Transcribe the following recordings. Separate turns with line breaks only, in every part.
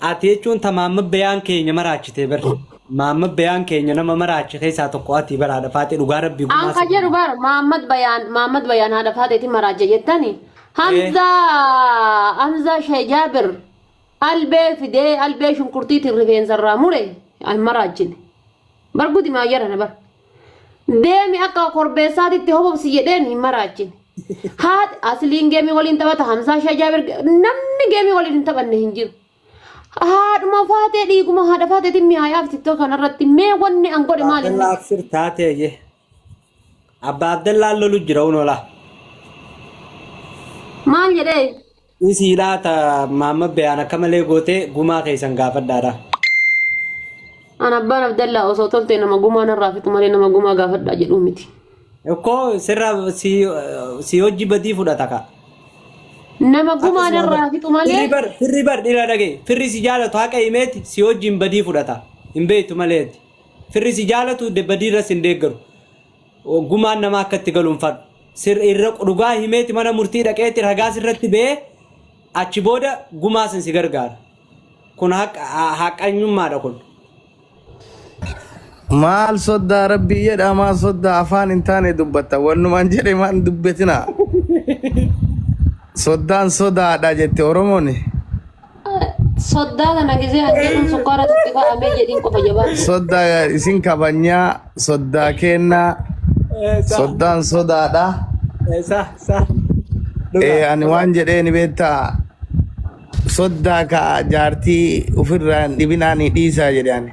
Ati jechuun ta Maamma Beyaan keenya maraachite bar. Maamma Beyaan keenya nama maraache keessaa tokko ati bar haadha faaxee dhugaa rabbii gumaa An ka jedhu bar
Maammad Bayaan Maammad Bayaan haadha faaxeeti maraacha jettani. Hamza Hamza Shee Jaabir albee fidee albee shunkurtiitiin rifeensa irraa mure an maraachine. Bar gudimaa jarana bar. Deemi akka korbeessaatitti hobobsi jedheen hin maraachine. Haati asliin geemii waliin taphata Hamzaa Shee Jaabir namni geemii waliin hin taphanne hin jiru. Haadhuma faatee dhiiguma haadha faateetiin mi'aayaaf tiktok kanarratti mee wanni an godhe maali? Abdalla Absir taatee
ye. Abba Abdallaan lolu jira unola.
Maal jedhee? Dhisii laa
ta Maamma Beyaan akka malee gootee gumaa keessan gaafadhaadha.
An abbaan Abdallaa osoo toltee nama gumaa narraa fixu malee nama gumaa gaafadhaa jedhuu miti. Ikkoo
sirra si si hojii badii fudhata ka. Nama gumaa
Akkasuma bar. narraa fixu Firri malee bar firri bar dhira
dhagee firri si jaalatu haqa himeeti si hojiin badii fudhata hin beektu maleeti. Firri si jaalatu de badii irras hin deeggaru. gumaan namaa akka itti galuun far sir irra dhugaa himeeti mana murtii dhaqeeti ragaas irratti ba'ee achi booda gumaa sin si gargaara. Kun haqa- ha- haqanyummaadha kun.
Maal soddaa rabbii jedhaa maal soddaa afaan hin taane dubbatta wannumaan jedhe maan dubbetina. Soddaan sodaadha jette Oromoon.
Soddaa kana gisee an jedhuun sukkaara tokko fa'aa mee jedhiin qofa
jabaa. Sodda isin kabajnaa soddaa keennaa Eh, sa- soddaan sodaadha. eh, sa sa Eh, dhugaa ani waan jedheen beektaa soddaa ka jaartii ofirraa hin dhibinaanii dhiisaa jedhe ani.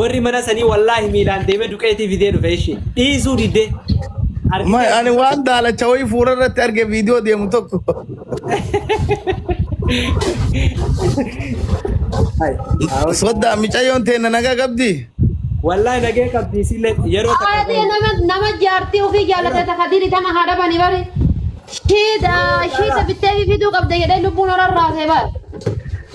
Warri mana sanii wallaahi miilaan deemee duqeetii fidee dhufe ishi. Dhiisuu didee. Ma- Argitee
Ani waan daalacha wayii fuula irratti arge viidiyoo deemu tokko. Hai, haawwan Soddaa haawwan. micayyoon teenna nagaa qabdi. Wallaahi
nagee qabdii sillee yeroo takka Haadhi qoyi. nama nama
jaartii ofii jaallatee takka diri tama haa dhabani bari. Shiida shiida bittee fi fiduu qabda jedhee lubbuun horan raasee bar.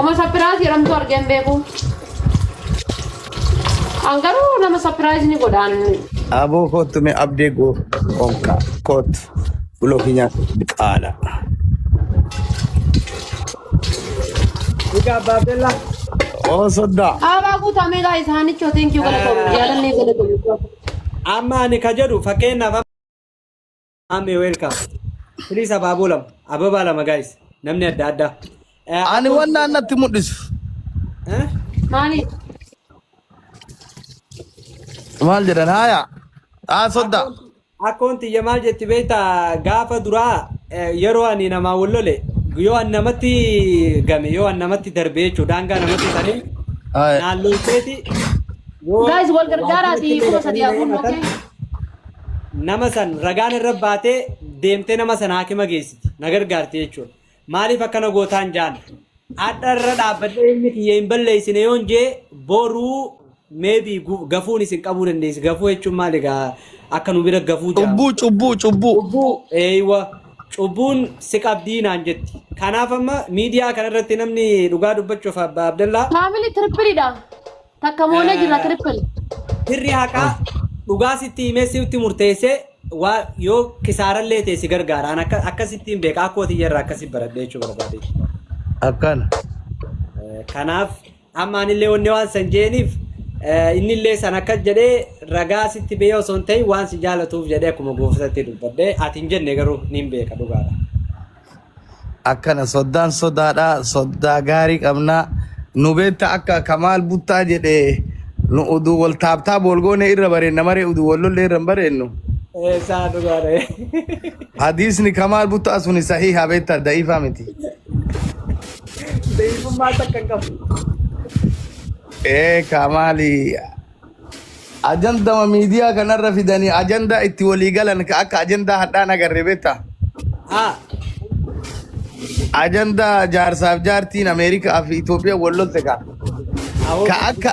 Oma
sapiraayis jedhamtu argee hin beeku. An garuu nama sapiraayis ni godhaan. Aboo koottu
mee abdee goo onkaa koottu bulooki nyaatu qaala.
Egaa abbaa Abdallaa. Oo
soddaa. Haabaa guutamee gaa
isaanichoo teenkiyuu galatoomu jaalannee galatoomu. Amma
ani ka jedhu fakkeenyaaf Ammee welcome. Please abaaboo lama. Ababaa lama guys. Namni adda addaa. Eh, Ani waan
naannatti mul'isu. eh? Maaliif? Maal jedhan haaya. Haa soddaa.
Akkoon tiyya maal jetti beektaa gaafa duraa eh, yeroo ani namaa wal lole yoo an namatti game yoo an namatti darbe jechuudha daangaa namatti ta'e Haaya. naan lolteeti yoo Guys, wal gargaaraati,
waajjira kuma sadii kee hafuun, himatan, okay?
nama san ragaan irra baatee deemtee nama san haakima geessiti na gargaarti jechuudha. Maaliif akkana gootaan jaan hadha irra dhaabbadhee ilmi kiyya hin balleessine yoon jee boruu meebi gafuun isin qabuu dandeessi gafuu jechuun maal egaa akka nu bira gafuu jaa Cubbuu cubbuu cubbuu. cubbuu eeywa cubbuun si qabdii naan jetti. Kanaaf amma miidiyaa kanarratti namni dhugaa dubbachuuf abba Abdallaa Faamilii tirpiliidha.
Takka moonee jirra Eh, triple. Firri haqaa
dhugaa sitti himee sitti murteessee waa yoo kisaarallee ta'e si gargaara. An akka akkasitti hin beeka. Akkootii yerra akkasi baradhee jechuu barbaade. Akkana.
Eh,
Kanaaf amma anillee wanni waan san jeeniif eh, innillee san akkas jedhee ragaa sitti bee osoo hin ta'in waan si jaalatuuf jedhee akkuma gooftaatti dubbadhee ati hin jenne garuu niin beeka dhugaadha.
akkana soddaan sodaadha soddaa gaarii qabna nu beekta akka kamaal buttaa jedhe nu uduu wal taaptaa boolgoonee irra bareenna maree uduu wal lollee irra hin bareennu Eh, saa
dhugaadha. hadiisni
kamaal buttaa suni sahiha beekta da'ifaa miti
Beekummaa takka hin qabu. ee
kamaali Ajandama miidiyaa kanarra fidanii ajandaa itti walii galan ka akka ajandaa hadhaan agarre beektaa? Haa. Ajandaa jaarsaaf jaartiin Ameerikaa fi Itoophiyaa wal lolte ka. Awoo Ka akka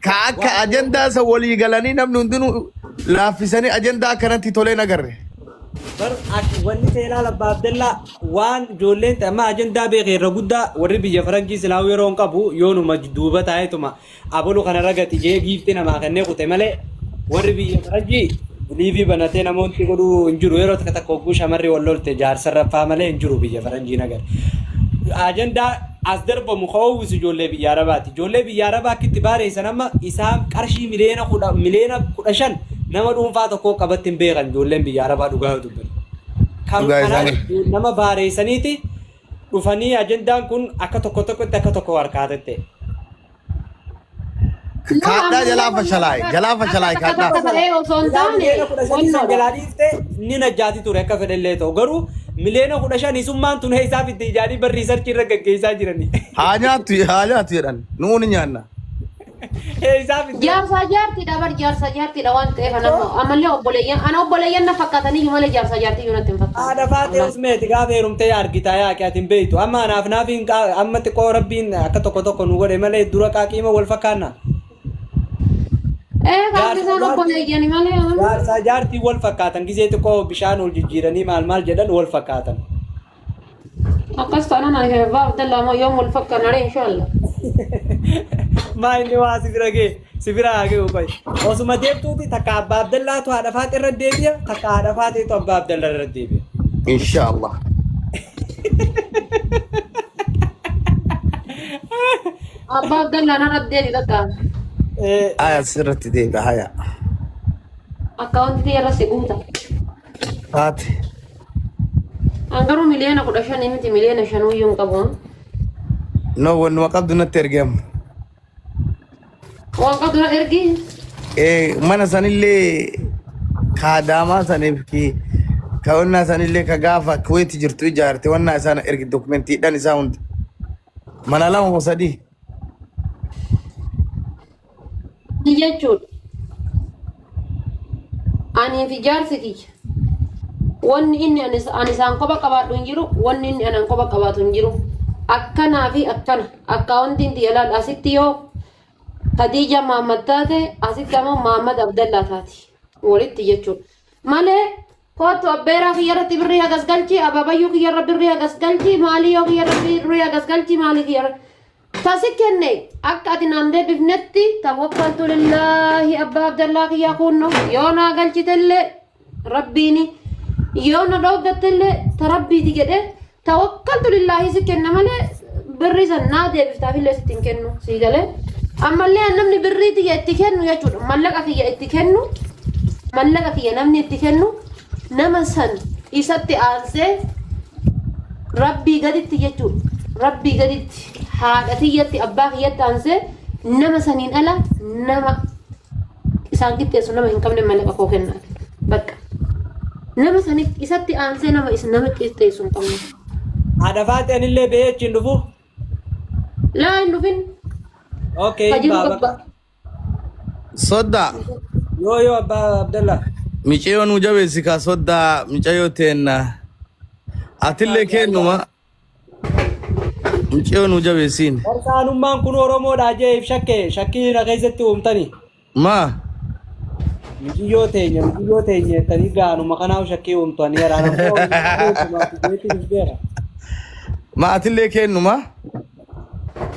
ka akka waan ajandaa isa walii galanii namni hundinuu laaffisanii ajandaa akkanatti toleen agarre. bar
ak- wanni seenaa labbaa Abdallaa waan ijoolleen ta'e amma ajandaa beekee irra guddaa warri biyya faranjii silaa'uu yeroo hin qabu yoonuma duuba taa'eetuma Abolu kana ragati jee giifti namaa kennee kute malee warri biyya faranjii liivii banatee namoonni godhuu hin jiru yeroo takka takka hogguu shamarri wal lolte jaarsa raffaa malee hin jiru biyya faranjii nagar. Ajandaa as darbamu ka oowwisu ijoollee biyya arabaati. Ijoollee biyya arabaa akka itti baareessan amma isaan qarshii miliyoona kudha miliyoona kudha shan nama dhuunfaa tokkoo qabatti hin beekan ijoolleen biyya arabaa dhugaa yoo dubbatu. Kan Dhugaa kanaan isaanii. nama baareessaniiti dhufanii ajendaan kun akka tokko tokkotti akka tokko harkaa tette.
Kaadhaa jalaa fashalaa'e, jalaa fashalaa'e kaadhaa. Akka ta'ee osoo hin taane Miliyoona kudha shanii san
jalaa dhiifte ni najjaati ture akka fedhe illee ta'u garuu miliyoona kudha shanii summaan tun heessaa fitti ijaanii barrii sarchii irra gaggeessaa jiranii. Haa nyaattu, haa
nyaattu jedhan. Nuu ni nyaanna. Eeysaa fidee. Jaarsaa jaartiidha bar
jaarsaa jaartiidha waan ta'eef anan Too. ammallee obboleeyyan ana obboleeyyan na fakkaataniyyuu malee jaarsaa jaartiyyuu natti hin fakkaanne. Haadha faaxee Wallahi. usmeeti
gaafa heerumtee yaa argitaa yaa aqi ati hin beeytu amma anaaf naaf hin qaa amma xiqqoo rabbiin akka tokko tokko nu godhe malee dura qaaqiima wal fakkaanna Ee
Jaarsaa qabdi isaan jaartii obboleeyyani malee. jaarsaa jaartii
wal fakkaatan gizee xiqqoo bishaan wal jijjiiranii maal maal jedhan wal fakkaatan
Akkas taanaan ani Abbaa Abdallaa moo yoom wal fakkaanna ree inshaallah.
Maa inni waa si bira gee si bira haa ga'u qoy. Osuma deemtuuti takka abbaa Abdallaatu haadha faaxee irra deebi'a takka haadha faaxeetu abbaa Abdallaa irra deebi'a.
Inshallah.
Abbaa Abdallaa narra deebi bakka. Eh, Aya
sirratti deebi'a haya.
Akkaawuntii irra si guuta. Haati.
An
garuu miliyoona kudha shanii miti miliyoona shanuu iyyuu hin
qabu. No wannuma qabdu natti ergi amma.
Waan qabdu na ergi. Eh, Mana
sanillee kaadaamaa saniif ki ka wannaa sanillee ka gaafa kuweeti jirtu ijaarte wannaa isaan ergi dokumentiidhaan isaa hundi. Mana lama moo sadii?
Ni jechuudha. Anii fi jaarsi kiyya. Wanni inni ani ani isaan kopha qabaadhu hin jiru, wanni inni anaan kopha qabaatu hin jiru. Akkanaa fi akkana akkaawuntiin tiyya laal asitti yoo Khadiija Maammad taate asitti ammoo Maammad Abdallaa taati. Walitti jechuudha. Malee Koottu abbeeraa kiyya irratti birrii hagas galchi, abaabayyuu kiyya irra birrii hagas galchi, maalii yoo kiyya irra birrii hagas galchi, maalii kiyya irra. Tasi kenne akka ati naan deebifnetti tawakkaltu lillaahi abbaa abdallaa kiyyaa kuunno yoo naa galchitellee rabbiini yoo na dhooggattellee ta rabbiiti jedhee tawakkaltu lillaahii si kenna malee birrii san naa deebiftaaf illee sitti hin kennu sii galee ammallee an namni birrii tiyya itti kennu jechuudha mallaqa kiyya itti kennu mallaqa kiyya namni itti kennu nama san isatti aansee rabbii gaditti jechuudha rabbii gaditti haadha tiyyatti abbaa kiyyatti aansee nama saniin ala nama isaan qixxeessu nama hin qabne mallaqa koo kennaati. Bakka nama sanitti isatti aansee nama is nama qixxeessu hin qabne. Haadha faatti
anillee bahee achiin dhufu.
Laa hin dhufin Okay.
ka jiru baaba. qabba.
Soddaa. Yoo
yoo abbaa Abdallaa. Micayoo nu
jabeessi kaa soddaa micayoo teenna. Atillee kennuma Mucayyoo nu jabeessiin. Barsaanummaan kun
Oromoodhaa jeef shakke shakkii na keessatti uumtani. Maa? Mijiyyoo teenya mijiyyoo teenya jettanii gaanuma kanaaf shakkii uumtanii yaraa rakkoo jeetti dhufeera.
Ma atillee keennumaa?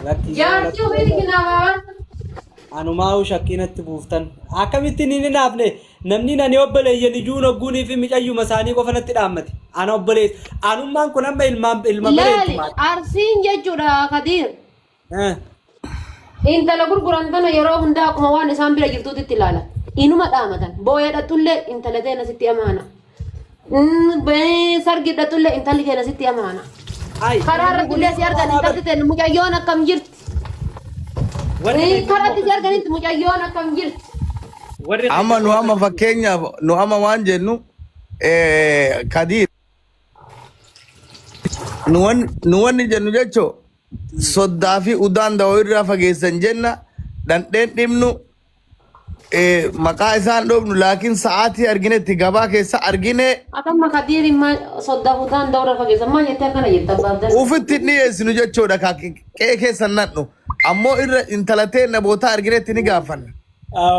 Lakkii
Jaartii ofii ni kinaafaa. anumaa
shakkii natti buuftan akkamittiin hin hinaafne Namnin ani obboleeyyan iyuu nogguuniifi micayyuma isaanii qofa natti dhaammate. Ana obboleessa. Anummaan kun amma ilmaan ilma baree itti Laali maadha.
arsiin jechuudha kadiir. Eh. Intala gurguran tana yeroo hundaa akkuma waan isaan bira jirtuutti itti ilaalan. Inuma dhaamatan. Booya dhaxxullee intala teena sitti amaana. Mm, bee, sargi dhatulle intalli keenya sitti amaana Ayi. karaa irratti illee si argan intalli teenna mucayyoon akkam jirti Warri Eh, karaa irratti si arganitti mucayyoon akkam jirti warri Amma
nu amma fakkeenyaaf nu amma waan jennu eh, kadiir nu wan- nu wanni jennu jechoo soddaa fi udaan dawoo irraa fageessan jenna dhandheen dhimnu Eh, maqaa isaan dhoofnu laakiin sa'aatii arginetti gabaa keessa argine Akka amma kadiiri
ma sodda hudaan dawra fageessa ma jette akkana jetta baabdan. ufitti hin dhiyeessinu
jechuudha ka qe'ee keessa hin nadhu ammoo irra intala teenna bootaa arginetti ni gaafanna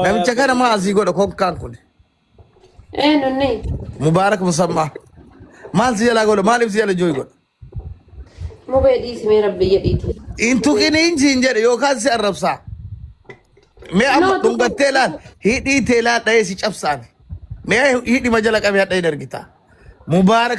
namicha kana maa asii godha konkaan kun Ee
nunni. mubaarak
musammaa maal si jalaa godha maaliif si jala jooy godha
Mubee dhiisi mee rabbi jedhiiti. Hin tuqiniin
siin jedhe yookaan si arrabsaa. Mee amma Noo tuqu dhungattee laal tuqu. hidhii tee laal dha'ee si cabsaame. Mee hidhima jala qabee hadha hin argitaa. Mubaarak